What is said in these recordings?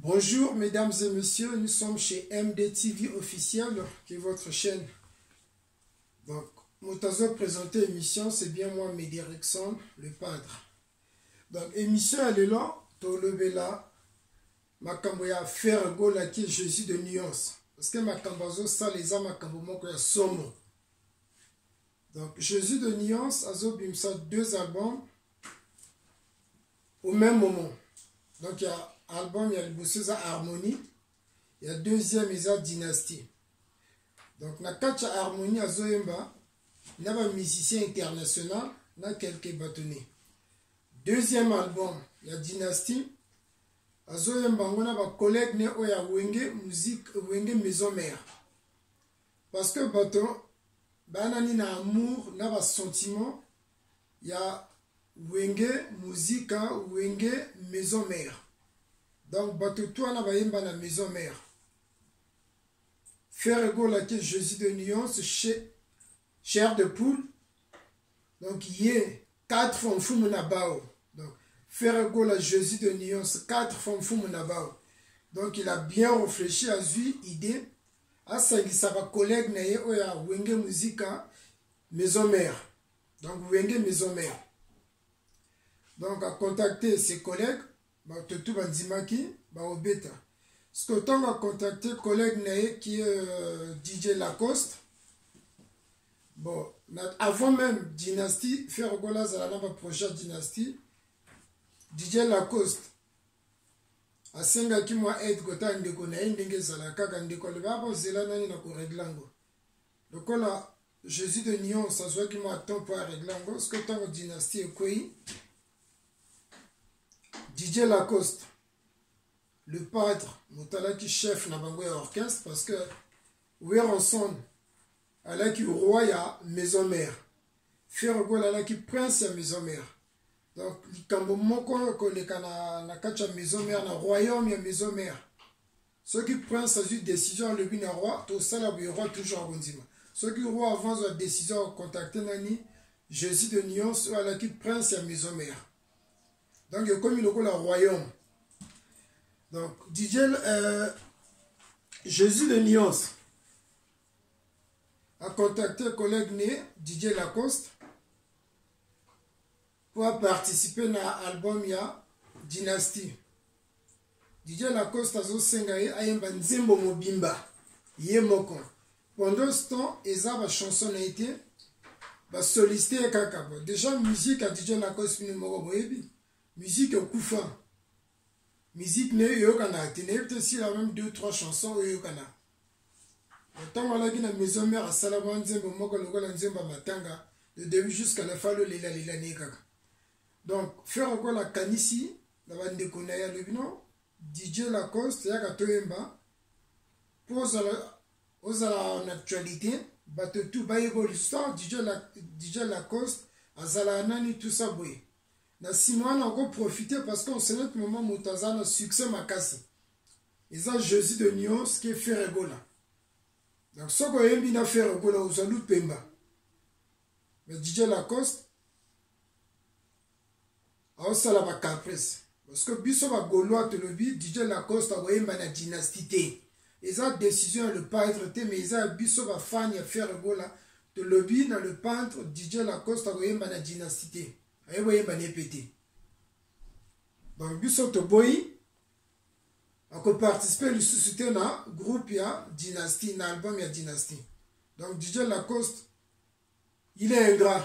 Bonjour mesdames et messieurs, nous sommes chez MDTV officiel, qui est votre chaîne. Donc, Moutazo présenté émission, c'est bien moi, Mehdi Rexon, le padre. Donc, émission à l'élan, Tolobela, Makambo ya Ferre Gola qui est Jésus de nuance. Parce que Makambo azo sale eza Makambo moko ya somo. Donc, Jésus de nuance azo bimsa deux albums. au même moment donc ya album ya liboso eza harmonie ya deuxième eza dynastie donc na kati ya harmonie azoyemba na bamusicien international na quelque batone deuxième album ya dynastie azoyemba yango na bacollègue ne oyo ya wenge musique wenge maison mère parce que bato bayanani na amour na basentiment ya wenge muzika wenge maison mère donc bato to wana bayemba na maison mère ferre golake jésus de nuance chair de poule donc ye quatre fois mfumu na bao donc ferre gola jésus de nuance quatre fois mfumu na bao donc il a bien réfléchi azwi idée asangisa bacollègue na ye oyo ya wenge muzika maison mère donc wenge maison mère donc akontacte ses collègues bato tu bandimaki baobeta soki ntango akontacte collègue na ye ki euh, dj lacoste bon na, avant même dynastie faire gola azala na baprojet dynastie dj lacoste asengaki mwa aide kotala ndeko na ye ndenge ezala kaka ndeko alobaka kozela nani na koregle yango lokola jesus de nuance azwaki mwa temps mpo aregle yango soki ntango dynastie ekwei didier lacoste le padre motalaki chef na bango ya orchestre parce que weronson alaki roi ya maison mère fergol alaki prince ya maison mère donc likambo moko koleka na, na kati ya maison mère na royaume ya maison mère soki prince azwi décision alobi na roi tosala boye roi toujours akondima soki roi avant azwa décision akocontacte nani jésus de nuance oyo alaki prince ya maison mère donc ekomi lokola royaume donc didie euh, jésus de nuance acontacte collègue ne didie lacoste mpo aparticipe na album ya dynastie dj lacoste azosenga ye ayemba nzembo mobimba ye moko pendant ce temps eza bachanson na ye te basoliste ye kaka bo déjà musique ya dj lacoste bino moko boyebi musique ekufa musique na ye eyokanaka te nayebi te sila meme deux trois chanson oyo eyokanaka ntango alaki na maison mare asala mwa nzembo moko lokola nzembo ya matanga de début jusqu'à la fin alolelalela na ye kaka donc fer okola akanisi na bandeko na ye alobi no dj lacoste yaka toyemba mpo ozala ozala na actualité bato tu bayeba lisusu dj lacoste azalaka nani tusa boye na nsima wana oko profite parce que en cet moment moto aza na succès makasi eza jésus de nuance ke fere gola donc soki oyembi na fere gola ozwa lupemba mais dj lacoste aosala bacaprice Parce que biso ba golois tolobi DJ Lacoste akoyemba na dynastie te. Eza decision ya le peintre te mais eza biso ba fan ya Ferre Gola tolobi na le peintre DJ Lacoste akoyemba na dynastie te. Aye boyemba na epe te. Donc biso toboyi akoparticipe lisusu te na groupe ya dynastie na album ya dynastie. Donc DJ Lacoste il est ingrat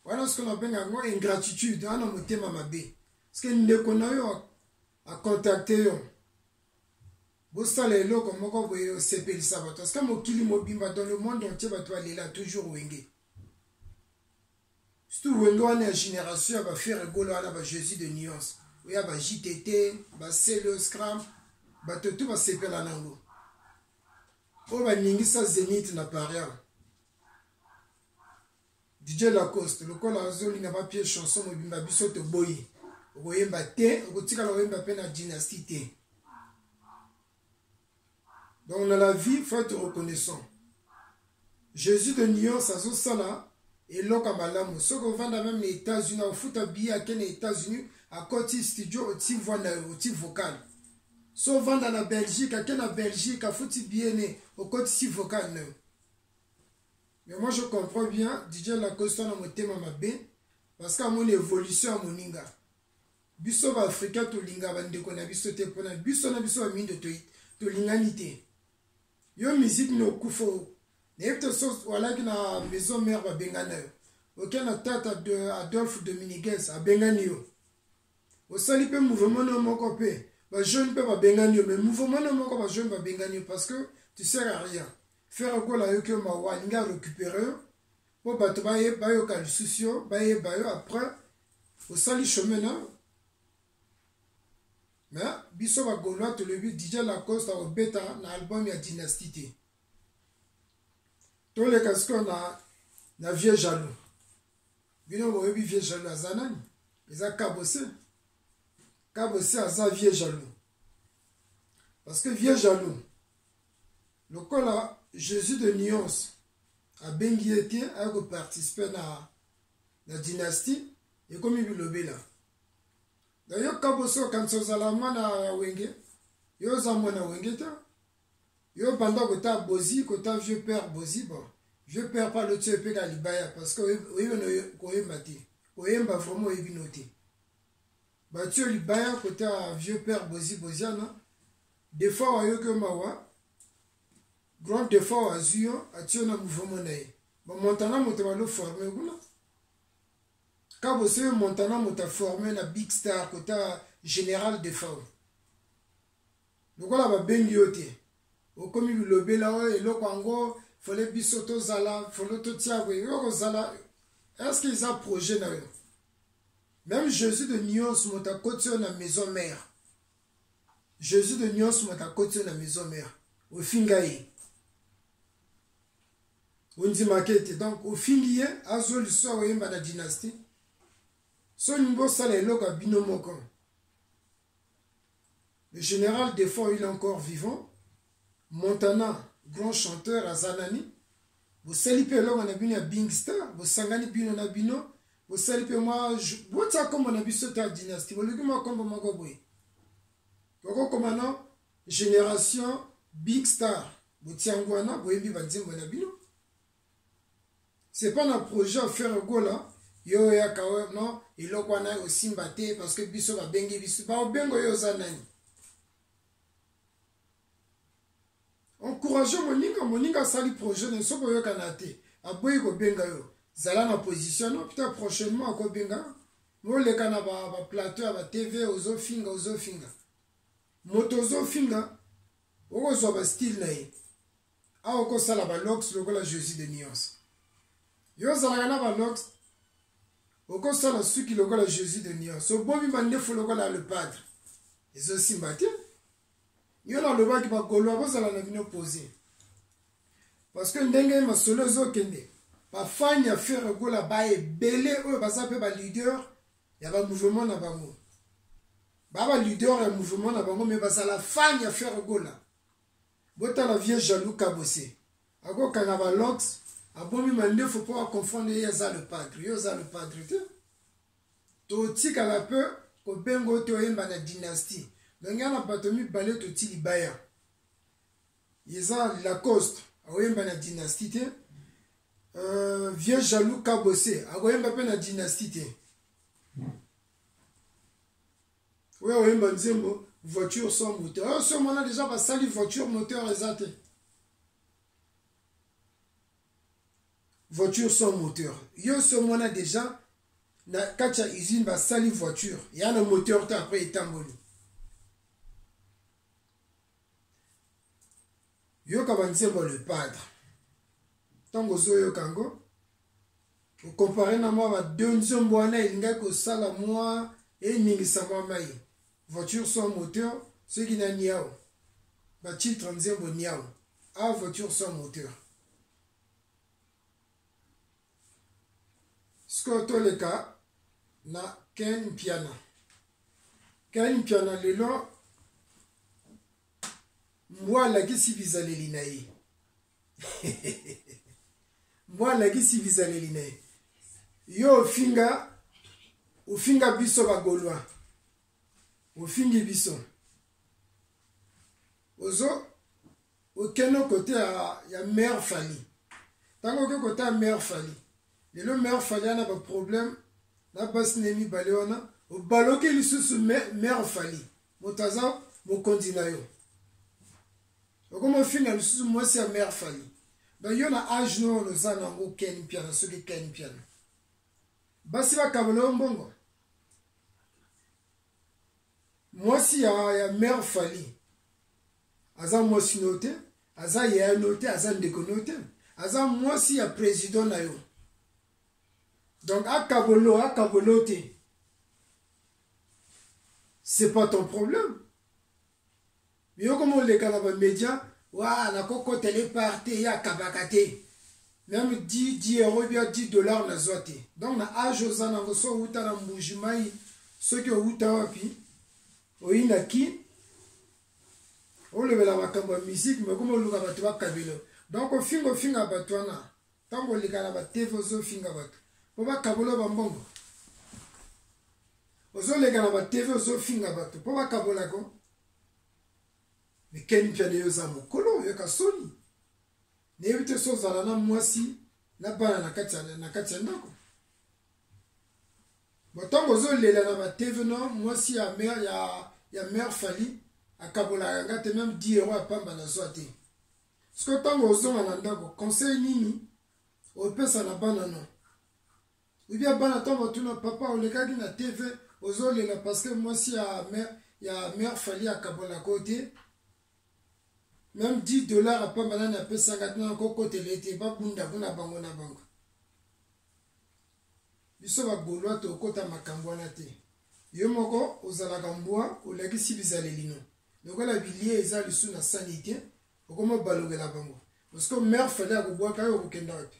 wana sikoyo nabenga yango ingratitude wana motema mabe sike ndeko na yo akontakte yo bosala eloko moko boye osepelisa bato parceke mokili mobimba dans le monde entier bato balela toujours wenge surtout wenge wana ya génération ya bafere egolo wana ba jésus de nuance oya ba jtt ba celo scram bato to basepela nango oyo baningisa zenith na paria dj lacoste lokola azolinga bapie chanson mobimba biso toboyi okoyemba te okotikala oyemba mpe na dynastie te donc na la vie faut être reconnaissant jésus de nuance azosala eloko ya malamu soki ovanda meme na états-unis akofuta biye ake na états-unis akoti studio oti voi na yo oti vocal so vanda na belgique ake na belgique afuti biene okotisi vocal na yo mais moi je comprends bien dj lacosta na motema mabe parce que amoni évolution ya moninga biso baafrika tolinga bandeko na biso te mpona biso na biso bamindo tolingani te yo miziki na okufa nayebi te so walaki na maison mare babengana yo oke na tata adolphe dominiguez abengani yo osali mpe mouvement no moko mpe bajeune mpe babengani yo mais mouvement no moko bajeune babengani yo parce que tu sers à rien frère gola ayoki yo mawa alingi arécupere yo mpo bato bayoka lisusu yo bayeba yo après osali chemin na me biso bagolois tolobi dj lacoste akobeta na album ya dynastie te toleka sikoyo na, na vieux jaloux bino boyebi vieux jaloux aza nani eza kabose kabose aza vieux jaloux parce que vieux jaloux lokola jésus de nuance abengi ye te aya koparticipe na, na dynastie ekomi bilobela nayo kabose okanisa ozala mwana ya wenge yo oza mwana wenge te yo banda kota bozi kota vieux père bozi bon vieux père pa lotso epeka libaya parce que oyebi no koyemba te oyemba vraiment oyebi no te batio libaya kota vieux père bozi boziana defaut ayoki yo mawa grand defaut azwi yo atio na mouvement na ye bamontana moto baloforme kuna kabo soki montana moto aforme na big star kota général defaut lokola babengi yo te okomi bilobela oyo oh, eloko yango fole biso tozala fole totia boye yo kozala estce eza projet na yo meme jésus de nios moto akoti yo na maison mare jésus de nios moto akoti yo na maison mare ofinga ye ondimaka ete donc ofingi ye azwa liso akoyemba na dynastie soni bosala eloko ya bino moko Le général Défend, il est encore vivant. Montana, grand chanteur, Azanani. bosali mpe elongo na bino ya bing star bosangani bino na bino bosali mpe mwa botya nkombo na biso ta dynastie boluki mwa nkombo moko boye tokokoma na génération big star botyango wana boyebi banzembo na bino c'est pas na projet ya ferre gola yo oyaka oyo non eloko wana osimba te parce que biso babengi biso baobengo yo oza nani encourage moninga moninga asali projet na soki oyokana te aboyi kobenga yo zala na position no pita prochainement akobenga moleka na baplateau ya batv ozofinga ozofinga moto ozofinga okozwa bastyle na ye awa okosala balox lokola jesus de nuance yo ozalaka na balox okosala suki lokola jesus de nuance obomi mandefu lokola le padre ezosimba te yo nalobaki bagoloa bozala na bino pose parce que ndenge masolo ezokende bafani ya fere gola ba ebele oyo baza mpe baleader ya bamouvement na bango ba baleader ya mouvement na bango me bazala fani ya fere gola botala vieux jaloux kabose akokanga ba lox abomi mandefu mpo aconfondre ye aza le padre yo oza le padre te totikala mpe kobenga oyo te oyemba na dynastie me ngai na bato mibale toti libaya eza lacoste akoyemba na dynastie te euh, vieux jaloux kabose akoyemba mpe na dynastie te oyo oyemba nzembo voiture sans moteur oyo somo wana deja basali voiture moteur eza te voiture sans moteur yo somo wana deja na kati ya usine basali voiture ya na moteur te après etamboli yoka banzembo le padre ntango ozoyoka yango okompare na mwa bado nzembo wana elingaki kosala mwa eningisa mwa mai voiture sans moteur soki na niao batitre nzembo niao a voiture sans moteur sikoyo toleka na ken mpiana ken mpiana lelo mbwa alakisi bizaleli na ye mbwa alakisi bizaleli na ye yo ofinga ofinga biso bagolwa ofingi biso ozo okende kote ya, ya mare fali ntango oke kota ya mare fali lelo mare fali ana baproblème na basi na ye mibale wana obaloki lisusu mare fali moto aza mokonzi na yo okomi ofinga lisusu mwasi ya mare fali donc yo na age no oyo oza nango ken mpiana soki ken mpiana basi bakabola yo mbongo mwasi ya, ya mare fali aza mwasi no te aza yaya no te aza ndeko no te aza mwasi ya president na yo donc akabolo akabolo te c'est pas ton problème yokoma oleka na bamédia wa nakokota le par te ye akabaka te meme 10 10 euro bia 10 dollar nazwa te donc na age oza nango so outa na mbuji mai soki outa wapi oyina kin olobela makambo ya miziki me okoma oluka bato bakabelo donc ofinga ofinga bato wana ntango oleka na batv ozofinga bato mpo bakabola bambongo ozoleka na batv ozofinga bato mpo bakabolako mikeni mpya naye oza mokolo oyoka soni nayebi te so ozala na mwasi na bana na kati ya ndako botango ozolela na bateve no mwasi ya mare ya, ya mare fali akabolaka nga te meme 10 euro ya pamba nazwa te siko ntango ozonga na ndako conseil nini opesa na bana no ebia bana ntango batuna papa olekaki na tv ozolela parce que mwasi ya mare ya mare fali akabolaka yo te meme 10 dollar apamba nani apesaka tuna nakokotela ete babunda kuna bango na bango biso bagolwa tokota makambo wana te yo moko ozalaka mbwa olakisi bizalelino lokola bilie eza lisu na sani te okoma obalokela bango parceke mare fale akobwaka yo okokenda wapi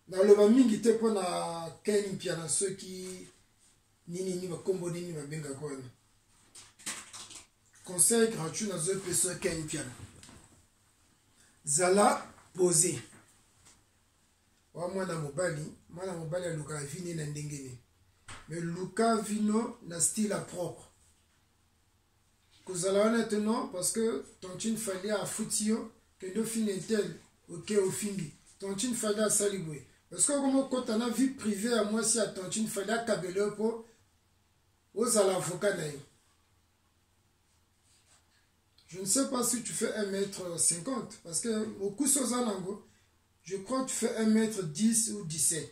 naloba mingi te mpo na ken mpiana soki nini nini bakombo nini babengaka wana conseil gratuit nazoi peso ken mpiana zala pose wa mwana mobali mwana mobali alukaka vi ne na ndenge ne me luka vino na style propre kozala wana te non parce que tantine fali afuti yo kende ofini etel oke ofingi tantine fali asali boye parce que okoma okota na vie privé ya mwasi ya tantine fali akabela yo mpo ozala avocat na ye je ne sais pas si tu fais 1 mètre 50 parce que mokusi oza nango je crois tu fais 1 mètre 10 ou 17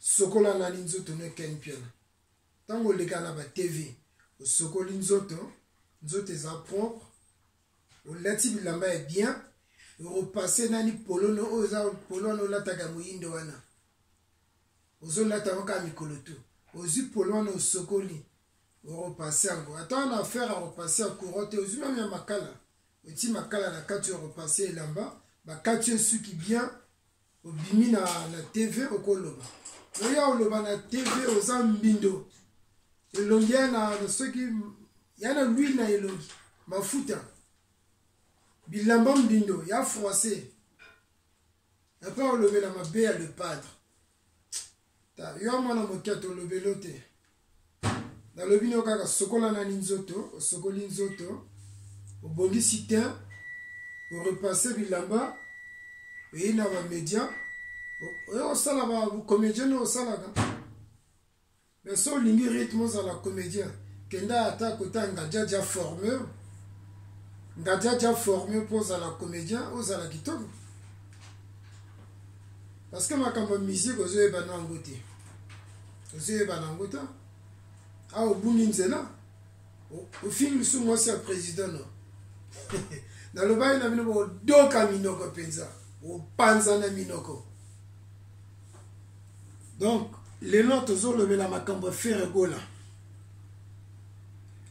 sokola nani nzoto no ken mpiana ntango oleka na ba tv osokoli nzoto nzoto eza propre olati bilamba ya bien orepasse nani polono oyo eza polo wana olataka moyindo wana ozolata yango kaka mikolo tu ozwi polo wana osokoli orepasse yango ata wana affaire ya repasse ya courant te ozwi mame ya makala oti makala na kati ya repasse elamba bakati yo suki bien obimi na, na tv okoloba oya oloba na tv oza mbindo elongi ya na, na soki ya na lwile na elongi mafuta bilamba mbindo ya français epai olobela mabe ya le padre ta yo mwana moke ata olobeli yo te nalobi nayo kaka sokola nani nzoto osokoli nzoto obongisi te orepasse bilamba oye na bamedia oye osala bacomédien oyo osalaka mais so olingi rythme ozala comédien kenda ata kota ngajaja forme ngajaja forme mpo ozala comédien ozala kitoko parce que makambo ya musique ozoyeba no yango te ozoyeba na yango ta awa obungi nzela ofingi lisusu mwasi ya président no nalobaki na bino bodoka minoko mpenza opanzana minoko donc lelo tozolobela makambo ya feregola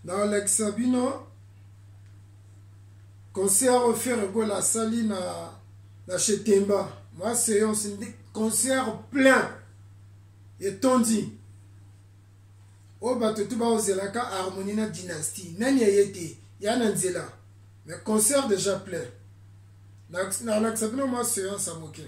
naolakisa bino concert oyo ferre gola asali na na chetemba mwa seance ndi concert plein etondi oyo bato tu baozelaka harmonie na dynastie nani aye te ya na nzela mais concert déjà plein nalakisa bino mwa seance ya moke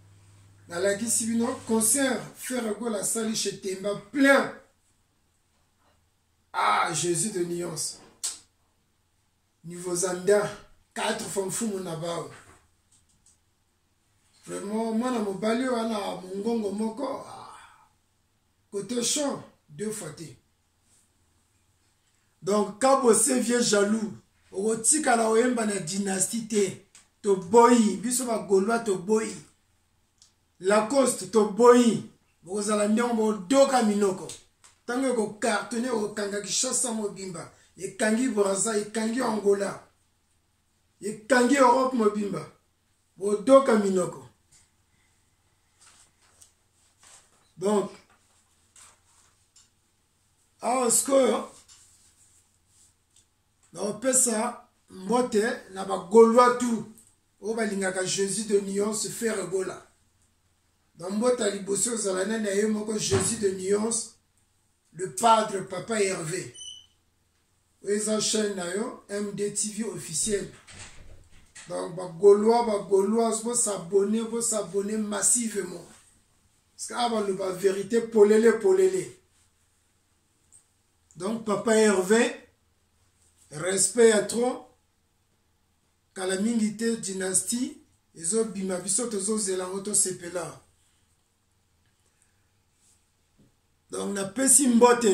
nalakisi bino concert ferre gola asali chez temba plein ah jésus de nuance niveau zanda quatre fois mfumu na bao vraiment mwana mobali wana mongongo moko ah. kote champ deux fois te donc kabo se vieux jaloux okotikala oyemba na dynastie te toboyi biso bagolois toboyi lacoste toboyi bokozala ndenge bodoka minoko ntango ekokartone ekokanga kishasa mobimba ekangi braza ekangi angola ekangi europe mobimba bodoka minoko donc awa sikoyo naopesa mbote na bagaulois tout oyo balingaka jésus de nuance fere gola bambote ya liboso ozala nani ya ye moko jésus de nuance le padre papa herve eza chaîne na yo mdtv officiel donc bagaulois bagauloise bosabone bosabone massivement parce que awa baloba vérité polele polele donc papa herve respect ya trop kala mingi te dynastie ezobima biso tozozela yango tosepela donc napesi mbote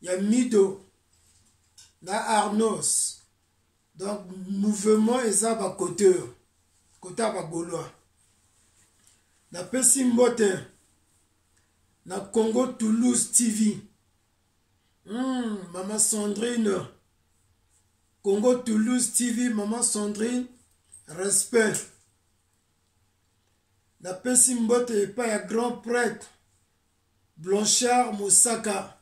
ya mido na arnos donc mouvement eza bakote oyo kote ya bagolois napesi mbote na congo toulouse tv mm, mama sandrine congo toulouse tv mama sandrine respect napesi mbote epai ya grand prêtre Blanchard Mosaka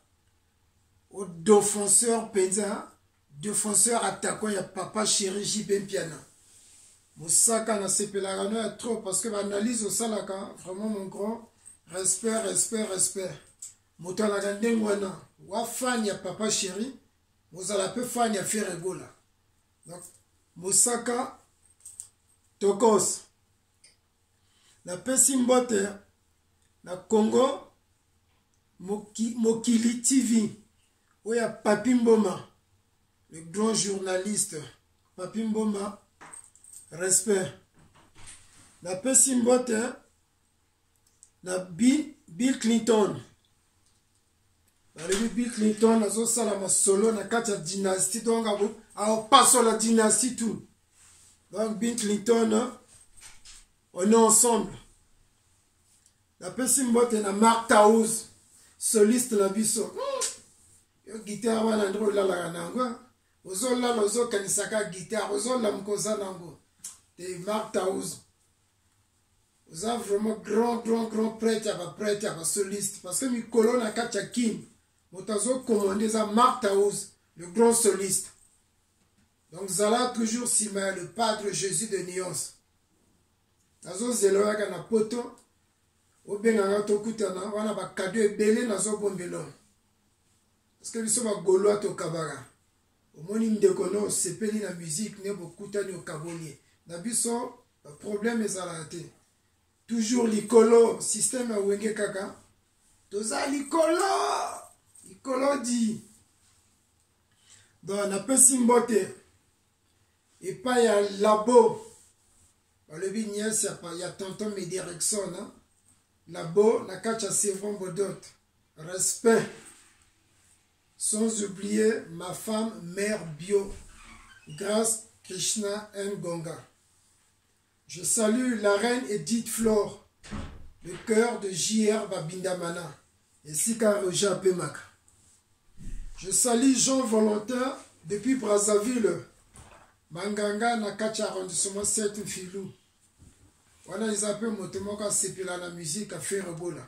o defenseur penza defenseur attaquant ya papa chéri JP Mpiana mosaka nasepelaka no ya trop parce que baanalyse osalaka vraiment mon grand respect respect respect moto alaka ndenge wana wa fan ya papa chéri mozala mpe fan ya ferre gola donc mosaka tokos napesi mbote na congo moki, mokili tv oyo ya papi mboma le grand journaliste papi mboma respect napesi mbote na bill clinton balobi bill clinton azosala masolo na kati ya dynastie donc akopasola dynastie tout donc bill clinton hein, on est ensemble napesi mbote na mark taus soliste na biso hmm. yo gitare wana nde olalaka na yango hein. ozolala ozokanisaka gitare ozolamuka oza na yango te mark taus oza vraiment grand grand grand prêtre ya baprêtre ya basoliste parce que mikolo na kati ya kin moto azokomande eza mark taus le grand soliste donc zala toujours nsima ya le padre jésus de nuance nazozela oyaka na poto obengaka tokutana wana bakado ebele nazobombela parce que biso bagolois tokabaka omoni ndeko no osepeli na musique ne bokutani okaboli ye na biso problème ezalaka te toujours likolo système ya wenge kaka toza likolo likolo di donc napesi mbote epai ya labo balobi niese ya tonton medirecson labo na kati ya sevron bodot respect Sans oublier ma femme mère bio, Grace Krishna Ngonga. Je salue la reine Edith Flore, le cœur de JR Babindamana, et Sika Roja Pemaka. Je salue Jean Valentin depuis Brazzaville, Manganga na kati ya arrondissement 7 Mfilou. Wana eza mpe moto moko asepela na musique afere bola.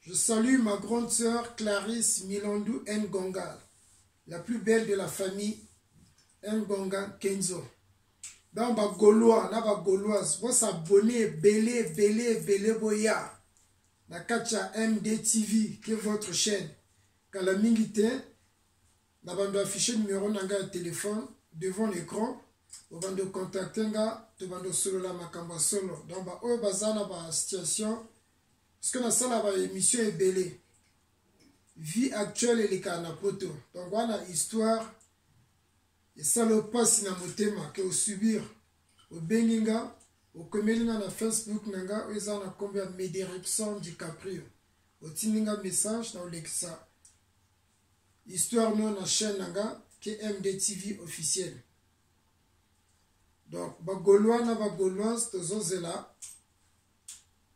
Je salue ma grande sœur Clarisse Milandu Ngonga, la plus belle de la famille Ngonga Kenzo. Donc ba Gaulois na ba Gauloises, vous s'abonnez, belé, belé, belé boya. Na kacha MDTV, qui est votre chaîne. Kala mingi te, na bando affiché numéro na nga ya téléphone devant l'écran. obando contacte nga tobando solola makambo ya solo donc baoyo baza na basituation parceke nasala ba émission ebele vie actuelle elekaka na poto donc wana histoire esala opasi na motema ke osubir obengi nga okomeli nga na facebook na nga oyo eza na nkombo ya medirection dicaprio otindi nga message na olekisa histoire no na chaîne na nga kmd tv officiel donc bagaulois na bagauloise tozozela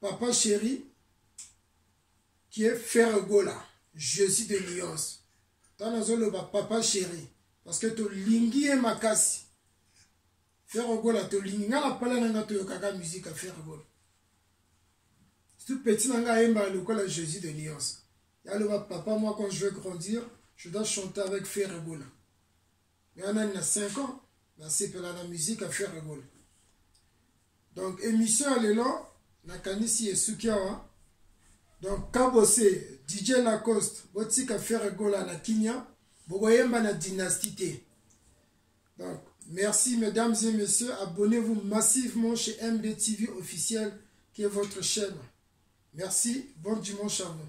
papa chéri qui est ferre gola jésus de nuance ntango nazoloba papa chéri parce que tolingi ye makasi ferre gola tolingi ngai na pala na ngai toyokaka musike ya ferre gola surtout petit na ngai ayembaka lokola jésus de nuance yaloba papa moi quand je vais grandir je dois chanter avec ferre gola mais on a na 5 ans na sepela na musique à faire rigole donc émission ya lelo nakanisi esuki awa donc kabose dj lacoste botika faire gola na kinya bokoyemba na dynastie te donc merci mesdames et messieurs abonnez-vous massivement chez mdtv officiel qui est votre chaîne merci bon dimanche à vous